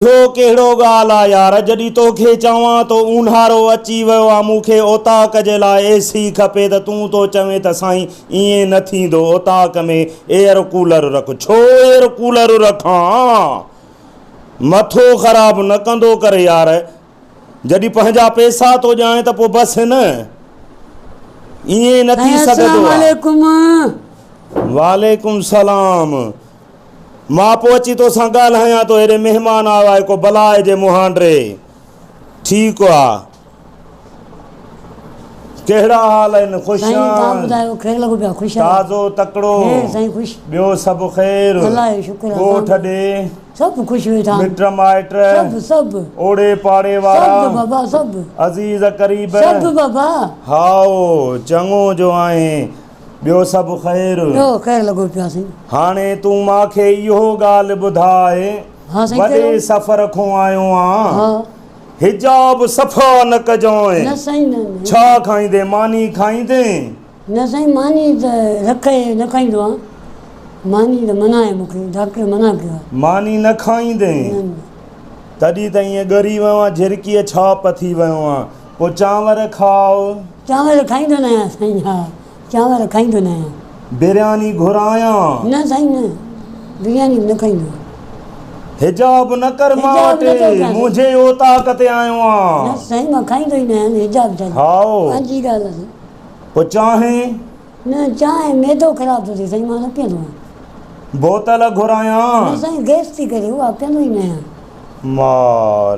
اهو ڪهڙو ڳالهه آ يار جڏهن توکي چوان ته اونهارو اچي ويو آ مون کي اوطاق جي لاء اي سي کپي ته تون ٿو چوين ته سائين ائين نه ٿيندو اوطاق ۾ ايئر ڪولر رک ڇو ايئر ڪولر رکان مٿو خراب نه ڪندو ڪر يار جڏهن پنهنجا پيسا ٿو ڄائين ته پو بس هن ائين نه ٿي سگهندو آ. وعليڪم سلام. مان پوء اچي تو سان ڳالهايان ٿو. هيڏي مهمان آيو آهي ڪو بلاء جي مهانڊري. ٺيڪ آ. ڪهڙا حال آهن؟ خوش سائين تان آن؟ ٻڌايو کير لڳو پيا خوش آهيو؟ تازو تڪڙو. کير سائين خوش. ٻيو سڀ خير؟ الله جو شڪر آ. ڳوٺ سڀ ڏي؟ سڀ خوش ويٺا آهن. مٽ مائٽ؟ سڀ سڀ. اوڙي پاڙي وارا؟ سڀ بابا سڀ. عزيز قريب؟ سڀ بابا. هائو چڱو جو آهين. ٻيو سڀ خير؟ ٻيو خير لڳو پيو سائين. هاڻي تون مان کي اهو ڳالهه ٻڌاء. ها سائين چيو. وڏي سفر کون آيو آن. ها. حجاب صفا نه ڪجانء. نه سائين نه نه. ڇا کائيندين ماني کائيندين؟ نه سائين ماني ته رکئي نه کائيندو آن. ماني ته منع آهي مون کي ڊاڪٽر منع ڪيو آهي. ماني نه کائيندين؟ نه نه. تڏهن ته ائين ڳري ويو آن جهرڪيء ڇاپ ٿي ويو آن. پوء چانور کاء. چانور کائيندو نه آهيان سائين. ها چانور کائيندو نه آهيان. برياني گهرايان. نه سائين نه برياني نه کائيندو آهيان. حجاب نه ڪر مان وٽ منهنجي اوطاق تي آيو آن. نه سائين مان کائيندو ئي نه آهيان حجاب ڇا جو. هائو. پنهنجي ڳالهه آهي سائين. پوء چانهه. نه چانهه معدو خراب ٿو ٿئي سائين مان نه پيئندو آهيان. بوتل گهرايان. نه سائين گئس ٿي ڪري اها پيئندو ئي نه آهيان. مار.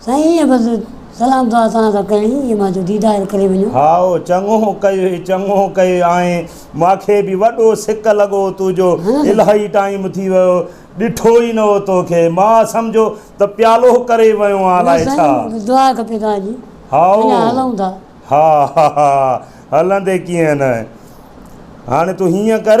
سائين ايئن بس سلام دعا توهان سان ڪرڻي هئي مان چيو ديدار ڪري وڃو. هائو چڱو ڪيئي چڱو ڪيئي آئين ماکي به وڏو سڪ لڳو توجو الاهي ٽائيم ٿي ويو ڏٺو ئي نه هو توکي مان سمجهو ته پيالو ڪري ويو آن الاهي ڇا. نه سائين بس دعا کپي توهان جي اڃا هلون ٿا. هائو ها ها ها هلندي ڪيئن نه هاڻي تون هيئن ڪر.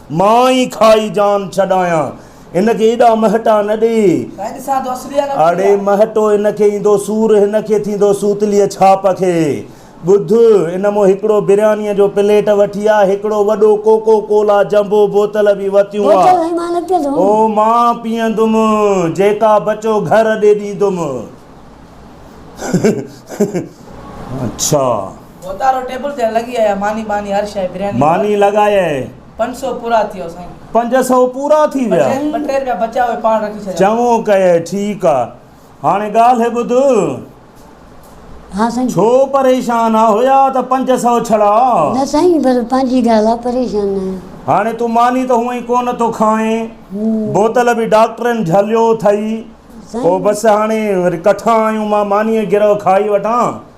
مان ئي کائي جان ڇڏايان. هن کي ايڏا مهٽا نه ڏي. اڙي مهٽو هن کي ايندو سور هن کي ٿيندو سوتليء ڇاپ کي. ٻڌ، ان مون هڪڙو بريانيء جو پليٽ وٺي آ، هڪڙو وڏو ڪوڪو ڪولا جمبو بوتل به وتيون آ. او مان پيئندم، جيڪا بچو گهر ڏي ڏيندم. اڇا. ماني لڳايئي، پنج سئو پورا ٿي ويا. چڱو ڪيئي، ٺيڪ آ. هاڻي ڳالهه ٻڌ، ڇو پريشان آ؟ هيا ته پنج سئو ڇڙا. هاڻي تون ماني ته هونئن ئي ڪونه ٿو کائين، بوتل به ڊاڪٽرن جهليو اٿئي. پوء بس هاڻي وري ڪٺان آيون، مان مانيء گرهه کائي وٺان.